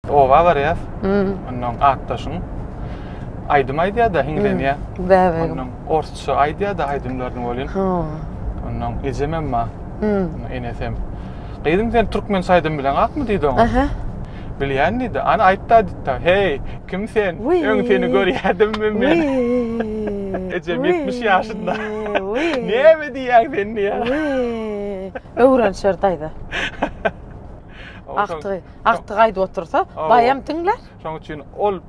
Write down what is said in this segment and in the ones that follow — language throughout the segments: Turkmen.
Oba barýas. Ondan atdaşyň aýdym aýdýar-da, hiňlenýär. Bäbegim. Ondan orsça aýdýar-da aýdymlaryny welin. Ondan ejem hem bar. Enesem. hem. Gyzym sen türkmen saýdym bilen akmy diýdi oňa. Aha. Bilýän diýdi. Ana aýtda diýdi. Heý, kim sen? Öň seni görýärdim men. Ejem 70 ýaşynda. Näme diýýäň sen diýýär. Öwrenişer daýza. Agtygy. Agtyk aýdyp otursa, baýam diňle. Şoň üçin ol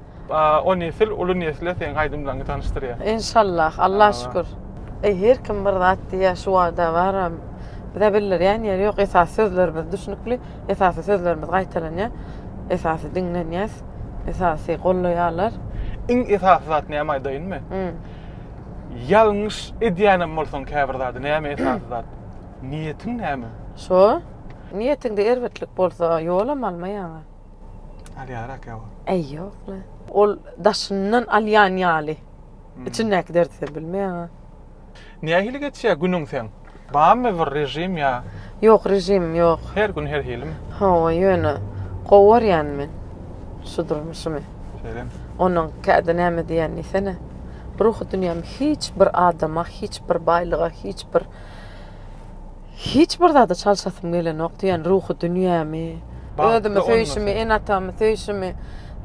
o nesil uly nesle seň aýdymlaryňy tanyşdyrýar. Enşallah, Alla şükür. Eý, her kim bir zat diýýär, şu wada baram. Bize bildirýän ýeri ýok, esasy sözlerimiz düşnükli, esasy sözlerimiz gaýtalanýar, esasy diňlenýäs, esasy gollaýarlar. Iň esasy zat näme aýdaýynmy? Ýalňyş edýänem bolsaň käbir zady, näme esasy zat? Niýetiň näme? Şo. Niýetiňde erbetlik bolsa, ýolam alma ýaňa. Alýarak ýa ol? Äý, ýok-la. Ol daşyndan alýan ýaly. Içindäki derdi sen bilmeýäň-a. Nähili geçýär günüň seň? Barmy bir režim ýa? Ýok, režimim ýok. Her gün her hilimi? Hawa, ýöne gowy görýän men şu durmuşymy. Şeýlemi? Onuň kädi näme diýýän diýsene. Ruhy dünýäm hiç bir adama, hiç bir baýlyga, hiç bir. Hiç bir zady çalşasym gelenok diýen ruhy dünýämi, özümi söýşimi, ene-atamy söýşimi,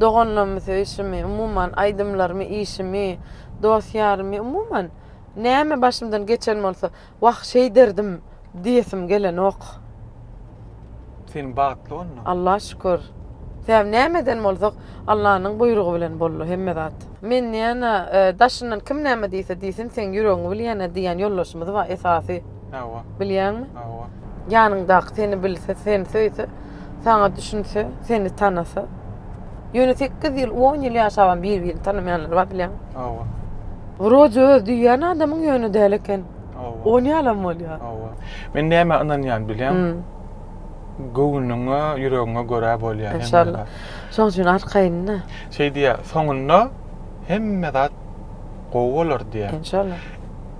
doganlarymy söýşimi, umuman, aýdymlarymy, işimi, dost-ýarymy, umuman, näme başymdan geçen bolsa, Wah, şeýderdim diýesim gelenok. Sen bagtly onda? Alla şükür. Sebäbi näme eden bolsak, Allanyň buýrugy bilen boldy hemme zat. Men diýýän-ä, daşyndan kim näme diýse diýsin, seň ýüregiňi bilýän-ä diýýän ýoldaşymyz bar, esasy. Hawa. Bilýäňmi? Hawa. Ýanyňdaky seni bilse, seni söýse, saňa düşünse, seni tanasa. Ýöne sekiz ýyl, on ýyl ýaşabam bir-birini tanamaýanlar bar bilýäňmi? Hawa. Wroje öz diýýän adamyň ýöne däl eken. Hawa. Ony ýalam bolýar. Hawa. Men nämä ynanýan bilýäň? Göwnüňe, ýüregiňe görä bolýar. Enşalla. Şoň üçin arkaýyn-da. Şeý diýýär, soňunda hemme zat gowy bolar diýýär. Enşalla.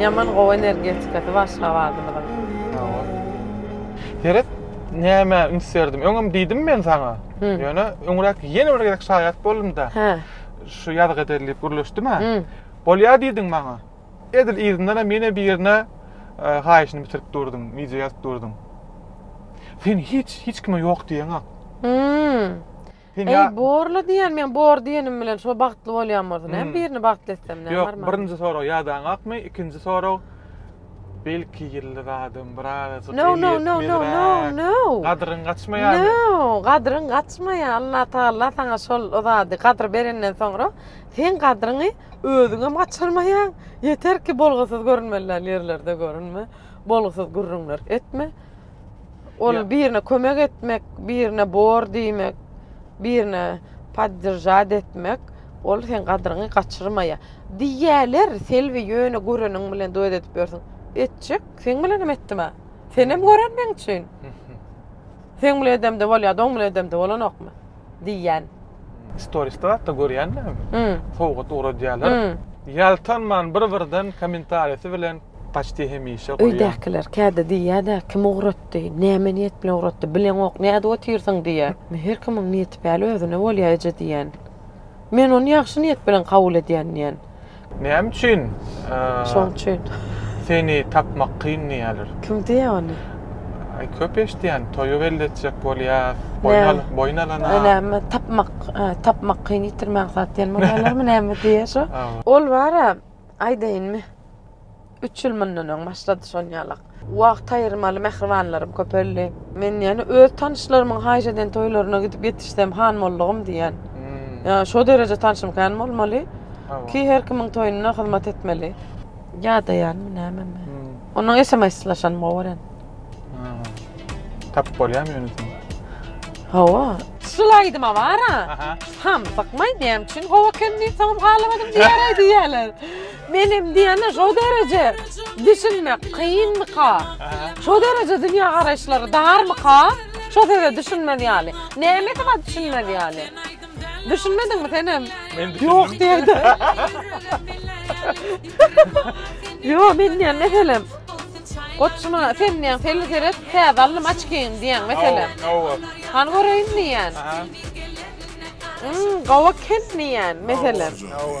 Ýaman gowy energetikasy bar Aşgabadymyzyň. Sagol. Seret nämä üns berdim. Öňem diýdim men saňa. Ýöne öňräk ýene bir gezek şaýat boldum-da. Şu ýazgy ederin diýip gürleşdim-ä. Bolýar diýdiň maňa. Edil yzyndanam ýene birine haýyşyny bitirip durduň, wideo ýazyp durduň. Sen hiç, hiç kime ýok diýeňok. Sen Eý, borly diýen, men bor diýenim bilen şo bagtly bolýan bolsa, näme hmm. birini bagtly etsem, näme Ýok, birinji sorag ýadaňakmy? Ikinji sorag belki ýylly zadym biraz No, no, no, no, no, no. Gadryň gaçmaýar. No, gadryň gaçmaýar. Allah Taala saňa şol o zady gadry berenden soňra sen gadryňy özüňe gaçyrmaýaň. Ýeter ki, bolgusyz görünmeli ýerlerde görünme. Bolgusyz gürrüňler etme. Ol Ya- birine kömek etmek, birine bor diýmek, birine podderžat etmek, ol sen gadryňy gaçyrmaýar. Diýýärler, Selbi ýöne göreniň bilen duet edip ýörsüň. Etjek, seň bilenem etdim-ä. Senem gören meň üçin. Seň bilen edemde bolýar, oň bilen edemde bolanokmy? diýýän. Storisde hatda görýän men. Sowgat ugradýarlar. Ýaltanman bir birden komentarisi bilen paçti hemişe goýýan. Öýdäkiler käde diýýädä kim ugratdy, näme niýet bilen ugratdy, bileňok näde otyrsyň diýýä. Her kimiň niýeti päli özüne bolýa eje diýýän. Men ony ýagşy niýet bilen kabul edýän diýýän. Näme üçin? Şoň üçin. Seni tapmak kyn diýýärler. Kim diýýär ony? Aý köp eşitýän, toýa geldi etjek bolýar, boýun al, boýun alana. Näme tapmak, tapmak kyn ýitirmäň zat diýen bolýarlarmy näme diýýär şo? Ol bara aýdaýynmy? Üç ýyl mundan öň başlady şol ýalak. Wagt aýyrmaly mähribanlarym köpeldi. Men ýene öz tanyşlarymyň haýyş eden toýlaryna gidip ýetişsem han boldugym diýýän. Ýa şo dereje tanşym kän bolmaly ki her kimiň toýunda hyzmat etmeli. Ýadaýanmy näme men. Onuň esemeýslaşanyny gowaryn. Tapyp bolýamy ýöne seni. Hawa. Şul aýdyma bar-a. Ham, bakmaý diýýän üçin hawa ekenini soňam halamadym diýýäraý diýýäler. Menem diýende şo dereje düşünmek kynmyka? Şo dereje dünýä garaýyşlary darmyka? Şo söze düşünmez ýaly. Nämesi bar düşünmez ýaly? Düşünmediňmi senem? Men düşündim. Ýok diýdi. Ýok men diýen meselem. Goçma sen diýen seni seret, täze alnym açkyň diýen meselem. Hawa. Han göreýin diýen. Aha. Hmm, gawa kem diýen meselem. Hawa.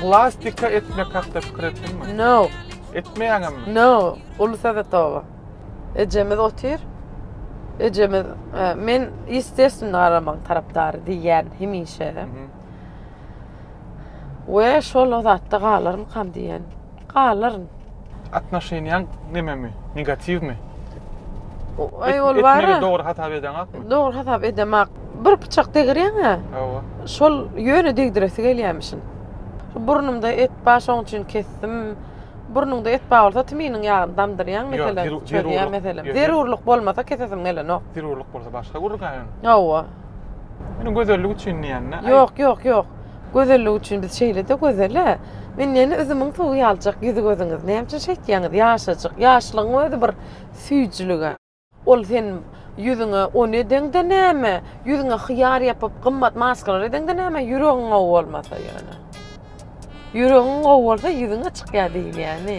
Plastika etmek hakda pikir etdiňmi? No. Etmeýäňemmi? No. Uly Sowetowa. Ejemiz otyr. Ejemiz, e, men ýestestwne garamagyň tarapdary diýýän hemişe. We şol o zatda galarmykam diýýän. Galaryn. Atnoşeniýaň nememi? Negatiwmi? Aý ol bar. Etmegi dogry hasap edeňakmy? Dogry hasap edemak. Bir pyçak degirýäň-ä. Hawa. Şol ýöne degdiresi gelýämişin. Burnumda et bar, şoň üçin kesdim. Burnuňda et bar bolsa tminiň ýagyny damdyrýaň meselem. Ýok, zerur, zerurlyk. Meselem, Ýok, ýok. zerurlyk bolmasa kesesim gelenok. Zerurlyk bolsa başga gürrüňä ýöne. Hawa. Ýöne gözellik üçin diýýän-dä. Aý. Ýok, ýok, ýok. Gözellik üçin biz şeýle-de gözel-ä. Men näme üzümiň suwy ýaljak ýüzi-gözüňiz. Näme üçin şeýtýäňiz? Ýaşajyk. Ýaşlygyň özi bir süýjülig-ä. Ol sen ýüzüňe ony edeňde näme? Ýüzüňe hyýar ýapyp, gymmat maskalar edeňde näme? Ýüregiň gowy bolmasa ýöne. Ýüregiň gowy bolsa ýüzüň-ä çykýar diýilýäni.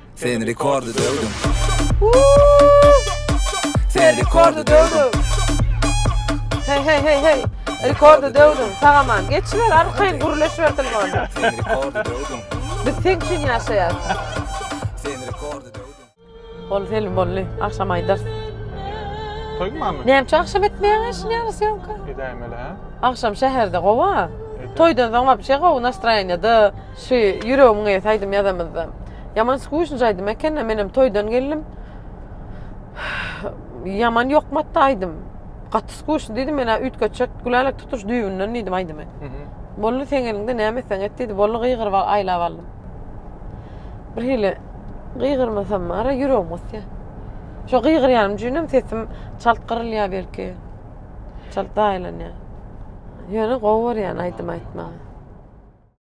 Sen rekordy döwdüň. Sen rekordy döwdüň. Hey hey hey hey. Rekordy döwdüň. Sagaman. Geçiler arkaýyn gürleş berdim onda. Sen rekordy döwdüň. Biz sen üçin ýaşaýas. Sen rekordy döwdüň. Ol film bolly. Akşam aýdar. Toýuň many? Näme üçin akşam etmeýäň işi näme syýamka? Edäýmeli ha. Akşam şäherde gowa. Toýdan soň wapşe gowy nastroýenýede. Şy ýüregimiň eýesi aýdym ýazamyzda. Ýaman skujnyj aýdym ekena menem toýdan geldim. Ýaman ýokmatdy aýdym. Gaty skujny diýdim mena üýtgetjek gülälek tutuş düýbünden diýdim aýdymy. Boldy seň eliňde näme etseň et diýdi boldy gygyryp aýlap aldym. Bir hili gygyrmasam ara ýüregim gysýa. Şo gygyrýanym üçinem sesim çalt gyrylýa belki. Çalt daýylanýa. Ýöne gowy görýän aýdym aýtmagy.